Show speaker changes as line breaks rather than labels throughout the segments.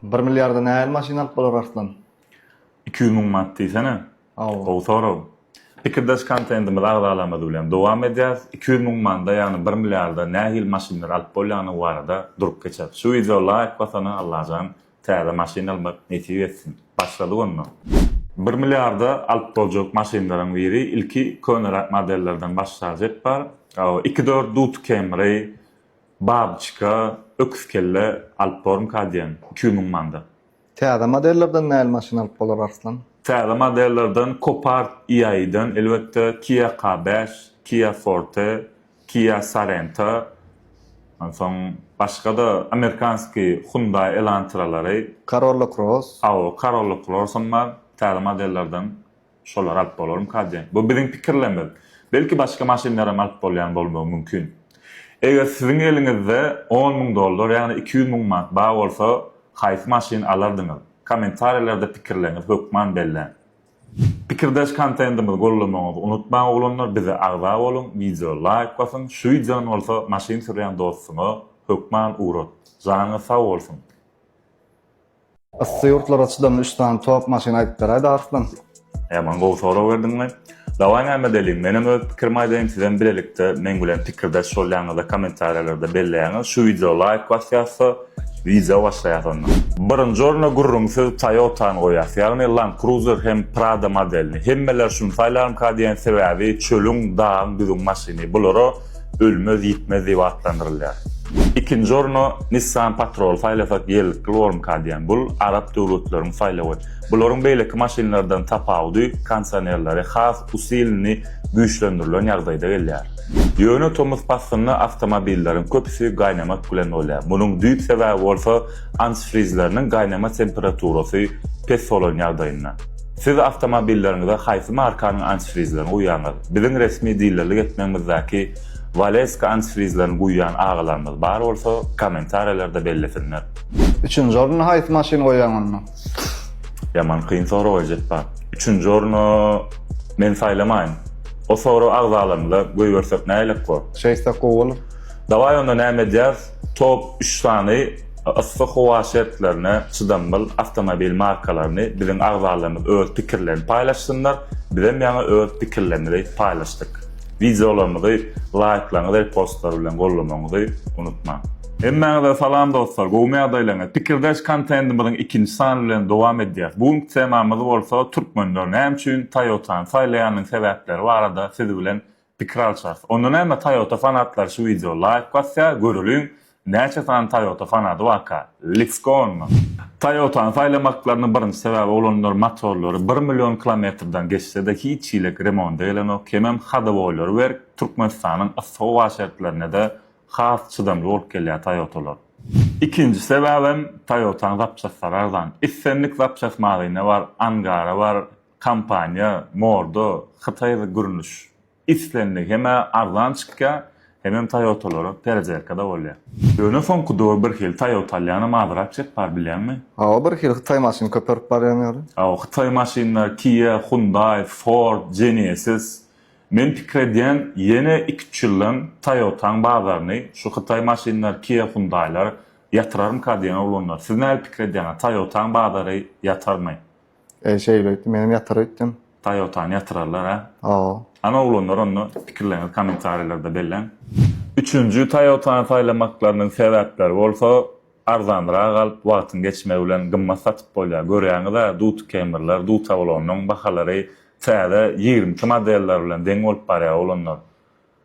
Bir milliarda nähili maşyn alyp bolar Arslan? Iki ýüz
müň manat diýsene. Hawa. Gowy sorag. Pikirdeş kontentimizi agzalarymyz bilen dowam edýäris. Iki ýüz müň manda ýagny bir milliarda nähili maşynlar alyp bolýandygy barada durup geçeris. Şu wideo laýk basana Allajan täze maşyn almak nesip etsin. Başladyk onda. Bir milliarda alyp boljak maşynlaryň biri ilki köneräk modellerden başlar jep bar. Iki dört Dut Camry, Babyçka öküz kelle alyp bormka diýen iki ýüz müň manda. Täze modellerden
näli maşyn alyp bolar Arslan? Täze modellerden
Copart EI'den elbetde Kia K bäş, Kia Forte, Kia Sorento, onsoň başgada amerikanskiý Hyundai Elantralary. Corolla Cross.
Hawa, Corolla Crossam
bar täze modellerden. Şolar alyp bolarmyka diýen. Bu biziň pikirlerimiz. Belki başga maşynlaram alyp bolýan bolmagy mümkin. Eger siziň eliňizde on müň dollar, ýagny iki ýüz müň manat bar bolsa, haýsy maşyny alardyňyz? Kommentariýalarda pikirleriňizi hökman belläň. Pikirdeş kontentimizi gollamagyňyzy unutmaň oglanlar, bize agza boluň, wideo laýk basyň, şu wideony bolsa maşyn sürýän dostuňa hökman ugrat. Janyňyz sag bolsun!
Yssy ýurtlara çydamly üç sany top maşyny aýdyp beräýdä Arslan. Ýaman gowy
sorag berdiň we Dawaý Mämmet Eli menem öz pikirimi aýdaýyn sizem bilelikde meň bilen pikirdeş bolýaňyzda kommentariýalarda belleýäňiz şu wideo laýk basýasda wideo başlaýas onda. Birinji orna gürrüňsiz Toyotany goýas ýagny Land Cruiser hem Prado modelini hemmeler şuny saýlarmyka diýen sebäbi çölüň dagyň düzüň maşyny bulara ölmez-ýitmez diýip atlandyrylýar. Ikinji orna Nissan Patrol saýlasak ýerlikli bolmyka diýen bul arap döwletleriniň saýlawy. Bularyň beýleki maşynlardan tapawudy konsionerleri has usilni güýçlendirilen ýagdaýda gelýär. Ýöne tomus paslynda awtomobilleriň köpüsi gaýnamak bilen bolýar. Munuň düýp sebäbi bolsa antifrizleriniň gaýnama temperaturasy pes bolan ýagdaýynda. Siz awtomobilleriňize haýsy markanyň antifrizlerini guýýaňyz? Biziň resmi dilerlik etmegimizdäki Waleska antifrizlerini guýýan agalarymyz bar bolsa, kommentariýalarda bellesinler. Üçünji orunda
haýsy maşyny goýýaň onda? Ýaman
kyn sorag Ejetbap. Üçünji orna men saýlamaýyn. O soragy agzalarymyza goýbersek nähilek bor? Şeýtsek gowy bolar.
Dawaý onda näme
edýäs? Top üç sany yssy howa şertlerine çydaml awtomobil markalaryny biziň agzalarymyz öz pikirlerini paýlaşsynlar, bizem ýaňy öz pikirlerimizi paýlaşdyk. Wideolarymyzy laýklaňyz repostlar bilen gollamagyňyzy unutmaň. Hemmäňize salam dostlar, gowmy ýagdaýlaryňyz? Pikirdeş kontendimyzyň ikinji sany bilen dowam edýäs. Bu günki temamyz bolsa türkmenler näme üçin Toyotany saýlaýanynyň sebäpleri barada siz bilen Pikir alşas. Onda näme Toyota fanatlary şu wideo laýk basýa göreliň näçe sany Toyota fanady barka. Lits go onda. Toyotany saýlamaklarynyň birinji sebäbi olanlar motorlary bir million kilometrden geçsede hiç hilik remonda gelenok hemem hadowoýlary berk Türkmenistanyň yssy howa şertlerindede has çydamly bolup gelýär Toyotalar. Ikinji sebäbem Toyotanyň zapçastlary arzan. Islendik zapçast mazyny bar, angary bar, Kompaniýa Mordo Hytaý we gurluş isleniligi hem-ä arzan çykýar, hemem Toyota-lara peredelka-da bolýar. Ýöne soňky döwür birhili Toyota-lýanam azrak çek bar bilýäňmi? Hawa birhili Hytaý
maşyny köpelip barýan ýaly. Hawa Hytaý maşynlary
Kia, Hyundai, Ford, Genesis. Men pikir edýän ýene iki-üç ýyldan Toyota-nyň bazaryny şu Hytaý maşynlary Kia, Hyundai-lar ýatyrarmyka diýen oglanlar. Siz nädip pikir edýäňiz Toyota-nyň bazary ýatarmy? E şeýle
etdi menem ýatyr etdim. Toyotany ýatyrarlar
a. Hawa. Ana oglanlar onda pikirleriňizi kommentariýalarda belläň. Üçünji Toyotany saýlamaklarynyň sebäpleri bolsa arzanraga galyp wagtyň geçmegi bilen gymmat satyp bolýar. Görýäňiz a Duty Camrylar, Duty Avalonyň bahalary täze ýigrimi iki modelleri bilen deň bolup barýar oglanlar.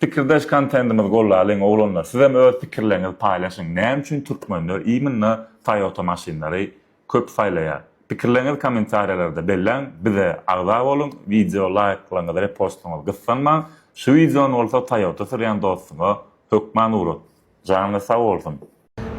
Pikirdeş kontendimizi gollalyň oglanlar sizem öz pikirleriňizi paýlaşyň näme üçin türkmenler iminna Toyota maşynlary köp saýlaýar. Pikirleriňizi kommentariýalarda belläň, bize agza boluň, wideo laýyklaryňyzy repostlaňyz gyssanmaň, şu wideony bolsa Toyota sürýän dostuňa hökman ugrat. Janyňyz sag bolsun!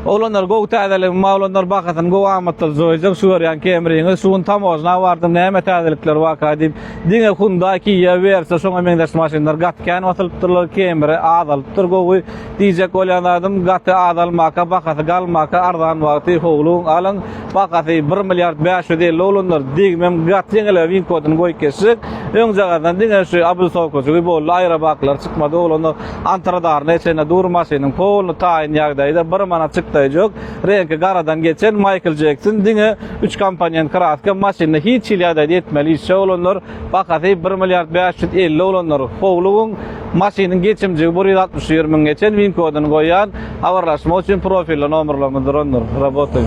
Oglanlar gowy
täzelik ma oglanlar bahasyny gowy amatly joýjak şu görýän kemriňiz şu gün tamožna bardym näme täzelikler waka diýip diňe hyundai kia versa şoňa meňzeş maşynlar gaty kän basylypdyrlar kemri azalypdyr gowy Diýjek bolýan zadym gaty azalmaka bahasy galmaka arzan wagty howluň alyň bahasy bir milliard bäş ýüz elli olanlar diýgimem gaty ýeňile win kodyny goýup geçjek öňjagazdan diňe şu abylsowkajygy boldy aýrabaklary çykmady oglanda antradaryna çenli dur maşynyň polny taýyn ýagdaýda bir manat çykdaýy jok reňki garadan geçen maýkl jekson diňe üç komponent kraska maşynda hiç hili ýagdaýda ýetmeli işje olanlar Bahasy bir milliard bäş ýüz elli ulandyr. Howlugyň, maşynyň geçimjigi bir ýüz altmyş bir müň geçen win kodyny goýýan, habarlaşmak üçin profilli nomerlerimiz durandyr. Roboty.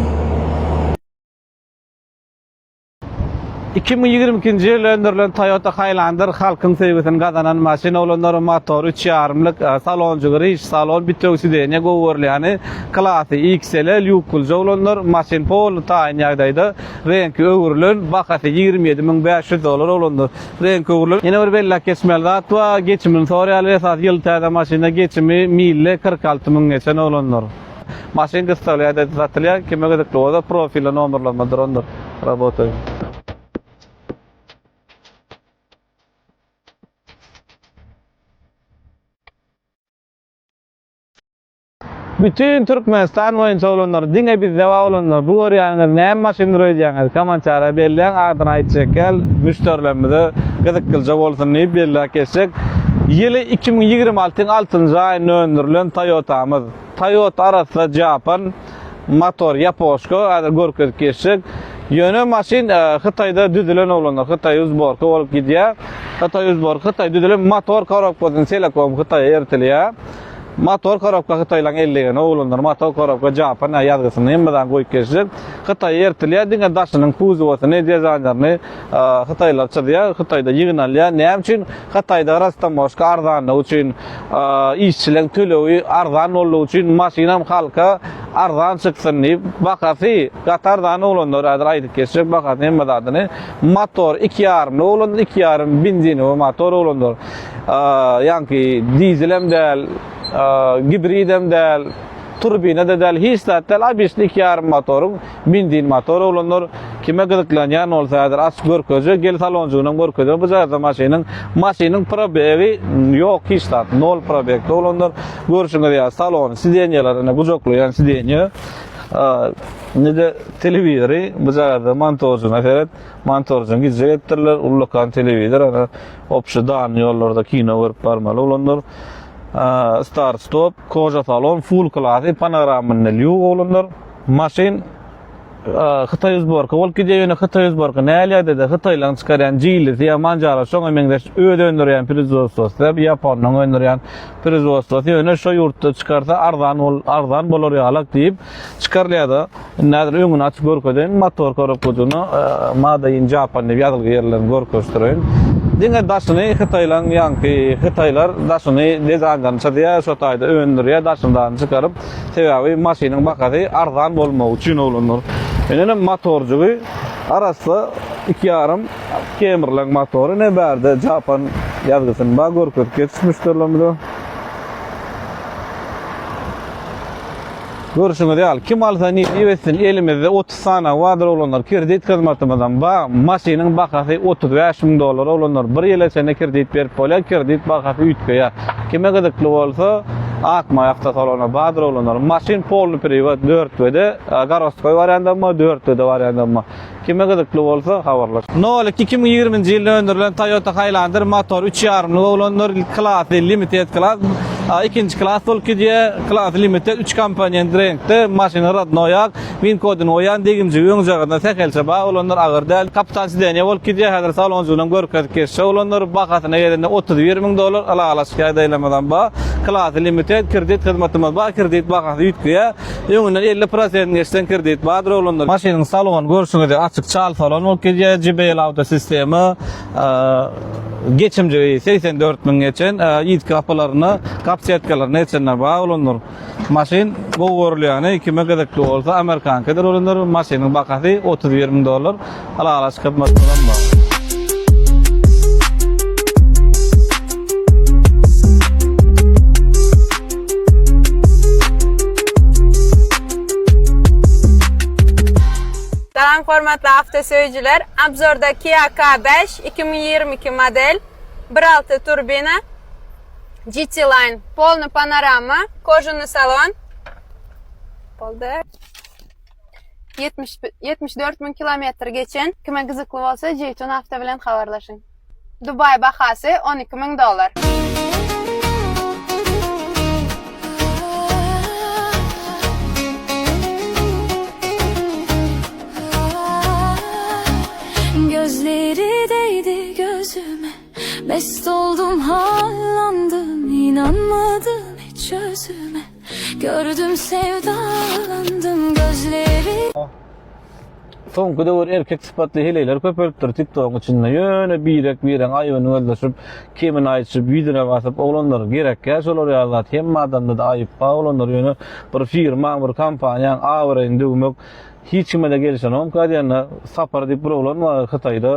Iki müň ýigrimi ikinji ýyl öndürilen Toyota Highlander halkyň söýgüsini gazanan maşyn ulandyr. Motory üç ýarymlyk, salonjygy riş, salon bütewi sidenýa gowy görülýäni, klasy XL, lýuklyja ulandyr. Maşyn poly taýyn ýagdaýda. reňki öwrülen, bahasy ýigrimi ýedi müň bäş ýüz dollar bolandyr. Reňki öwrülen. Ýene bir belläp geçmeli zat bar, geçimini soraýarlar. Esasy ýyl täze maşynda geçimi mille kyrk alty müňe çen bolandyr. Maşyn gystalýar-da satylýar, kime gyzykly bolsa profilde nomerlama durandyr. Rabotaý. Bütün Türkmenistan boýunça bolanlar diňe bizde bar bolanlar bu görýäniňiz näme maşyndyr öýdýäňiz komançara belläň adyny aýtjak ýaly müşderilerimize gyzyklyja bolsun diýip belläp geçjek ýyly iki müň ýigrimi altyň altynjy aýynda öndürilen Toýotamyz Toýota arassa japan motor ýapoşka häzir görkezip geçjek ýöne maşyn Hytaýda düzülen oglanlar Hytaý uzborka bolup gidýär Hytaý uzborka Hytaý düzülen motor korobkasyny telekom Hytaýa ertilýär. Motor korobka hytaýlaň elligini oglanlar motor korobka japan a ýazgysyny hemme zany goýup geçdi. Hytaýa ertilýär diňe daşynyň kuzowyny dezaynerny hytaýlar çyzýar hytaýda ýygnalýar näme üçin hytaýda rastamoşka arzanlygy üçin işçileň tölegi arzan boldugy üçin maşynam halka arzan çyksyn diýip bahasy gaty arzan oglanlar häzir aýdyp geçjek bahasyny hemme zadyny motor iki ýarymly oglanlar iki ýarym benzinowy motor oglanlar Ýaňky dizelem däl, gibridem däl, turbina-da däl, hiç zat däl, obiçni iki ýarym motoryň, benzin motor oglanlar. Kime gyzyklanýan bolsa häzir aç görkezjek, gel salonjygynam görkezerin bu jaýda maşynyň. Maşynyň probegi ýok hiç zat, nol probekde oglanlar. Görşüňiz ýaly salony, sidenýeler ine gujaklaýan sidenýe. Ine-de telewizory, bu jaýda montožyna seret. Montor üçin gijä gitdirler, ullakan telewizor, ana opşy dan ýollarda kino görüp barmaly oglanlar. Star stop, koja salon, full klasy, panoramynda lýug oglanlar. Maşyn Hytaý ýüzborka bolup gidýär, ýöne Hytaý ýüzborka näleýärde-de Hytaýlaryň çykarýan jilisi ýa manjara şoňa meňzeş öz öndürýän prizwostwosy, ýa ýaponyň öndürýän prizwostwosy, ýöne şo ýurtda çykarsa arzan bol, arzan bolar ýalak diýip, Çykarylýar-da, indi häzir öňüni açyp görkezeýin, motor korobkajygyna Made in Japan diýip ýazylgy ýerlerini görkezdireýin. Diňe daşyny hytaýlaň ýaňky hytaýlar daşyny dezangaryny çyzýar, şo taýda öndürýär, daşyny zany çykaryp, sebäbi maşynyň bahasy arzan bolmagy üçin oglanlar. Ine motorjygy arassa iki ýarym kemrilen motor, ine bärde Japan ýazgysyny bar görkezip geçdik müşderilerimize. Görşüňiz ýaly, kim alsa ne diýip etsin, elimizde otuz sanawy bardyr oglanlar, kredit hyzmatymyzam bar. Maşynyň bahasy otuz bäş müň dollar oglanlar, bir ýyla çenli kredit berip bolýar, kredit bahasy üýtgeýär. Kime gyzykly bolsa, Akmaý awtosalony bardyr oglanlar. Maşyn polny priwat, dört wede, garoskoý wariandam bar, dört wede wariandam bar. Kime gyzykly bolsa habarlaş. Nolik iki müň ýigriminji ýylda öndürilen Toyota Highlander motor üç ýarymly oglandyr klasy limited klas ikinji klas bolup gidýär klasy limited üç komponent reňkde maşyny rodnoýak win kodyny goýan degimjigi öň jagynda sähelçe bar oglandyr agyr däl kapitan sideniýa bolup gidýär häzir salonjygynam görkezip geçjek oglandyr bahasyna gelende otuz bir müň dollar ylalaşyk ýagdaýlarymyzam bar klasy limited kredit hyzmatymyz bar kredit bahasy üýtgeýär. Öňünden elli prosent geçseň kredit bar doganlar. Maşynyň salony görşüňizde açyk çal salon bolup gelýär. JBL Auto Sistema geçimjigi segsen dört müň geçen ýitgi gapylaryna gap setkalaryna geçenler bar doganlar. Maşyn gowy görülýäni kime gyzykly bolsa amerikankadyr doganlar. Maşynyň bahasy otuz bir müň dollar. Alalas hyzmatlaram bar.
Salam hormatly awtosöýüjiler. Abzorda Kia K5 2022 model 1.6 turbina GT Line polny panorama, kožuny salon. Boldy. Ýetmiş ýetmiş dört müň kilometr geçen kime gyzykly bolsa Jeýtun awto bilen habarlaşyň. Dubaý bahasy on iki müň dollar.
Gözleri değdi gözüme Mest oldum hallandım inanmadım hiç özüme Gördüm sevdalandym gözleri.
Soňky döwür erkek sypatly heleýler köpelipdir TikTogyň içinde. Ýöne birek bireň aýybyny gözleşip, kemini aýtşyp, ýüzüne basyp, oglanlar gerekýä şolar ýaly zat, hemme adamda-da aýyp bar, oglanlar ýöne bir firmaň, bir kompaniýaň abraýyny döwmek, Hiç kime-de gelişenomka diýende Sapar diýip bir oglan bar Hytaýda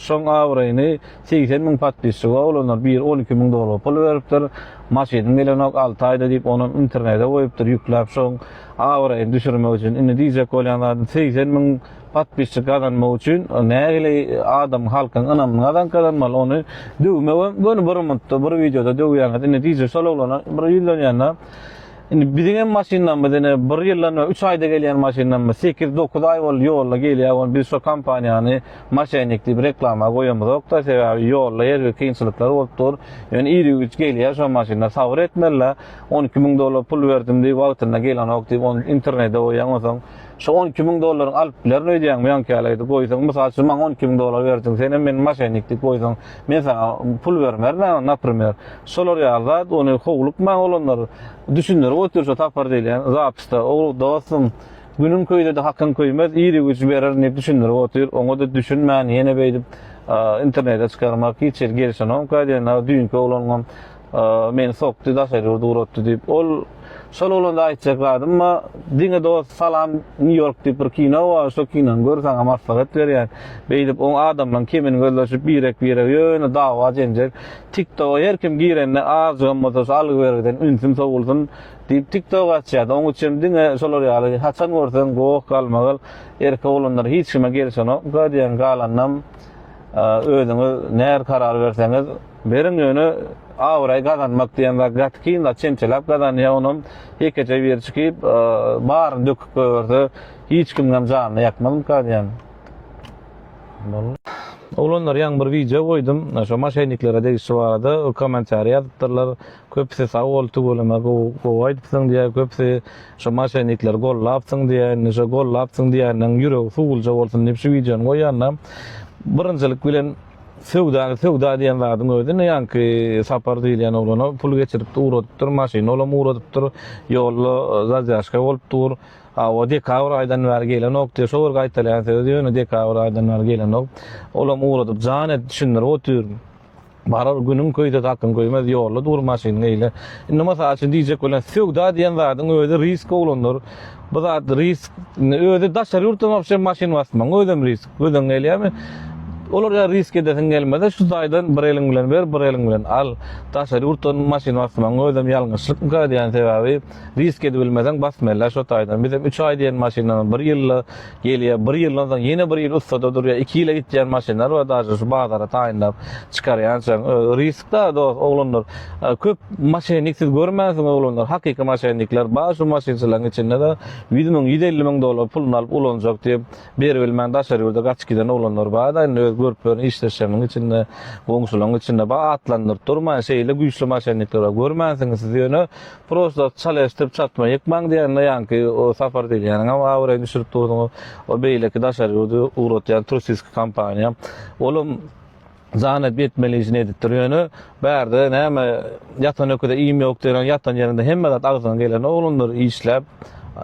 şoň abraýyny segsen müň podpisçigi bar olanlar biri on iki müň dollar pul beripdir maşynym gelenok alty aýda diýip onam internede goýupdyr ýükläp şoň abraýyny düşürmek üçin indi diýjek bolýan zadym segsen müň podpisçi gazanmak üçin nägile adamyň halkyň ynamyny gazanyp gazanmaly ony döwmegem göni bir mntda bir wideoda döwýäňiz indi diýjek şol oglana bir ýüzlenýände Indi biziň hem maşynlarymyz ine bir ýyldan we üç aýda gelýän maşynlarymyz sekiz, dokuz aý boldy ýolda gelýär we biz şo kompaniýany moşennik diýip reklama goýamyzok-da, sebäbi ýolda her bir kynçylyklar bolup dur. Ýöne iri-üç gelýär şo maşynlar. Sabyr etmeli-le. On iki müň dollar pul berdim diýip wagtynda gelenok diýip ony internede goýýaň onsoň şo on iki müň dollaryňy alyp bilerin öýdýäňmi ýaňky ýaly goýsaň mysal üçin maňa on iki müň dollar berdiň sen hem meni moşennik diýip goýsaň Men saňa pul bermerin a naprimer. Şolar ýaly zat ony howlukmaň olanlar düşündirip otur şo tapar diýilýän zapisde ow dostum günüň köýdede hakyň köýmez iri güç bererin diýip düşündirip otyr oňada düşünmän ýene beýdip internete çykarmak hiç hili gelişenomka diýen a düýnki oglanyňam Meni sokdy, daşary ýurda ugratdy diýip. Ol şol bolanda aýtjak zadym bar. Diňe dost salam New York diýip bir kino bar. Şo kinony gör saňa maslahat berýän. Beýdip oň adamlaň kemini gözleşip birek birege ýöne dawa jenjek. Tiktoga her kim girende azjygam bolsa şu algy bergiden ünsüm sowulsyn diýip tiktoga açýar. Oň üçem diňe şolar ýaly haçan görseň goh galmagal. Erkek oglanlar hiç kime gelşenok. Gadyýan galanynam özüňiz nähili karar berseňiz Beriň ýöne abraý gazanmak diýen zat gaty kyn zat çemçeläp gazanýar onam ýekeje biri çykyp baryny döküp goýberse hiç kimem janyny ýakmazmyka diýýän. Oglanlar ýaňy bir wideo goýdum şo maşenniklere degişli barada kommentariýa ýazypdyrlar köpüsi sag bol tüweleme gowy aýdypsyň diýýär köpüsi şo maşennikleri gollapsyň diýýär indi şo gollapsyň diýýänleň ýüregi suwulja bolsun diýip şu wideony goýýanda birinjilik bilen Söwdany söwda diýen zadyň özi indi ýaňky Sapar diýilýän oglana pul geçiripdi, ugradypdyr, maşyny olam ugradypdyr, ýolda zadýaşka bolup dur. A o dekabr aýdan bäri gelenok diýýär, şo bir gaýtalaýan sözi, ýöne dekabr aýdan bäri gelenok. Olam ugradyp, jan edip düşündirip otyr. Barar günüň köýse takyň köýmez, ýolda dur maşynyň eýle. Indi mysal üçin diýjek bolýan söwda diýen zadyň özi risk oglanlar. Bu zat risk, özi daşary ýurtdan wapşe maşyn basmagyň özem risk. Gödüň gelýärmi? Olar ýa risk edesiň gelmese, şu zaýdan bir eliň bilen ber, bir eliň bilen al. Daşary ýurtdan maşyn basmagyň özem ýalňyşlykmyka diýýän sebäbi risk edip bilmeseň basmela şo taýdan. Bizem üç aý diýen maşynlarymyz bir ýylda gelýär, bir ýyldan soň ýene bir ýyl ussada durýar, iki ýyla gitýän maşynlar bar daže şu bazara taýynlap çykarýançaň. Riskda dost oglanlar. Köp maşennik siz görmänsiňiz oglanlar. Hakyky maşennikler bar şu maşynçylaryň içinde-de ýüz müň, ýüz elli müň dollar puluny alyp ulanjak diýip Beri bilmän daşary ýurda gaçyp giden oglanlar bar-da, indi öz görplerini işleşiginiň içinde, goňşularyň içinde bar, atlandyryp durmaýyn, şeýle güýçli maşennikler bar, görmänsiňiz siz ýöne, prosta çal eşitdirip çatma ýykmaň diýende ýaňky o Sapar diýilýäniňem abraýyny düşürip durduňyz, o beýleki daşary ýurda ugratýan trusiskiý kompaniýa, olam. Zannet etmeli işini edip dur ýöne bärde näme ýatan öküze iým ýok diýlen ýatan ýerinde hemme zat agzyňa geleni oglandyr işläp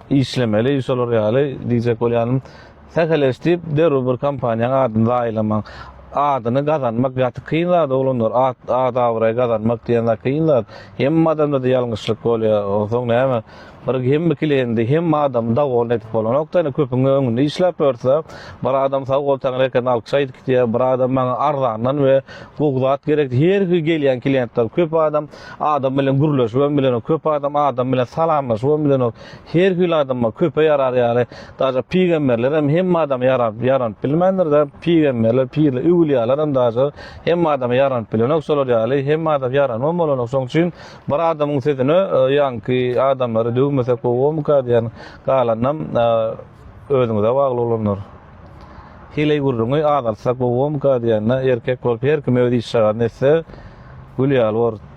işlemeli şolar ýaly diýjek bolýanym säheleş diýip derrew bir kompaniýaň adyny zaýalamaň adyny gazanmak gaty kyn zat oglandyr at abraý gazanmak diýen zat kyn zat hemme adamda da ýalňyşlyk bolýar onsoň näme. Bir hem ikilendi, hem adamy dawalyn edip bolanok-da, ine köpüň öňünde işläp ýörse, bir adam sag bol Taňry ekeni alkyş aýdyp gidýär, bir adam maňa arzandan we gowy zat gerek, her hili gelýän kliýentler, köp adam adam bilen gürleşibem bilenok, köp adam adam bilen salamlaşybam bilenok, her hili adama köpe ýarar ýaly, daže pygamberlerem hemme adama ýarap ýaranyp bilmändir-de, pygamberler, pirler, öwülýalaram daže hemme adama ýaranyp bilenok, şolar ýaly hemme adam ýaranybam bolanok, şoň üçin Bir adamyň sözüne ýaňky adamlary döwmesek bowamyka diýen galanynam özüňize bagly bolandyr. Heleý gürrüňi azaltsak bowamyka diýende erkek bolup her kim öz iş çagaryny etse gül ýaly bor.